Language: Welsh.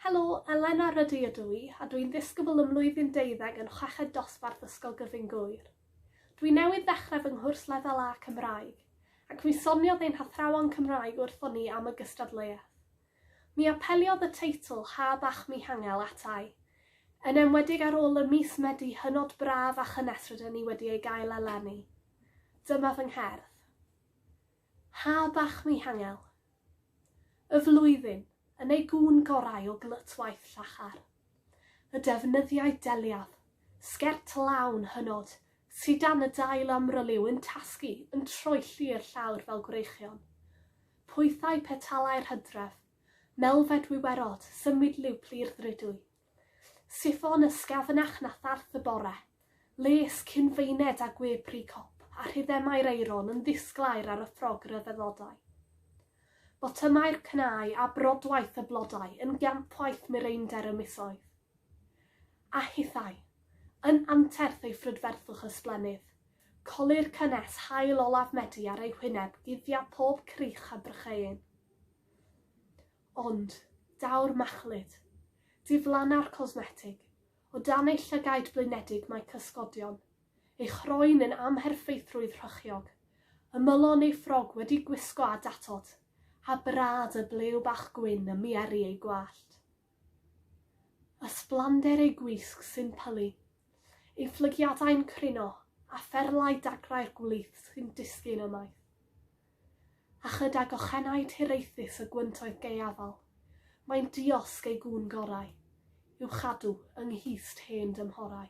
Helo, Elena Rydw ydw i, a dwi'n ddisgybl ym mlwyddyn deuddeg yn chweched dosbarth Ysgol Gyfun Gŵyr. Dwi newydd ddechrau fy nghwrs Lefel A Cymraeg, ac mi soniodd ein hathrawon Cymraeg wrthon ni am y gystadleuaeth. Mi apeliodd y teitl 'Ha Bach Mi Hangel' ata i, yn enwedig ar ôl y mis Medi hynod braf a chynnes rydyn ni wedi ei gael eleni. Dyma fy ngherdd. Ha bach Mihangel. Y flwyddyn, yn ei gŵn gorau o glytwaith llachar. Y defnyddiau deliaf, sgert lawn hynod, sy dan y dail amryliw yn tasgu, yn troelli i'r llawr fel gwreichion. Pwythau petalau'r hydref, melfed wiwerod, symudliw plu'r ddrudwy, Siffon ysgafnach na tharth y bore, les cyn-feined a gwepri cop a rhythemau'r eiron yn ddisglair ar y ffrog ryfeddodau. Botymau'r cnau a brodwaith y blodau yn gampwaith mireinder y misoedd. A hithau, yn anterth ei phrydferthwch ysblennydd, colli'r cynnes haul olaf Medi ar ei hwyneb guddio pob crych a brycheuyn. Ond, daw'r machlud. Diflanna'r cosmetig. O dan ei llygaid blinedig mae cysgodion. Ei chroen yn amherffeithrwydd rhychiog. Ymylon ei ffrog wedi gwisgo â datod. A brad y blew bach gwyn ym mieri ei gwallt. Ysblander ei gwisg sy'n pylu. Ei fflygiadau'n crino, a pherlau dagrau'r gwlith sy'n disgyn ymaith. A chydag ochennau tiraethus y gwyntoedd gaeafol, mae'n diosg ei gŵn gorau, i'w chadw yng nghist hen dymhorau.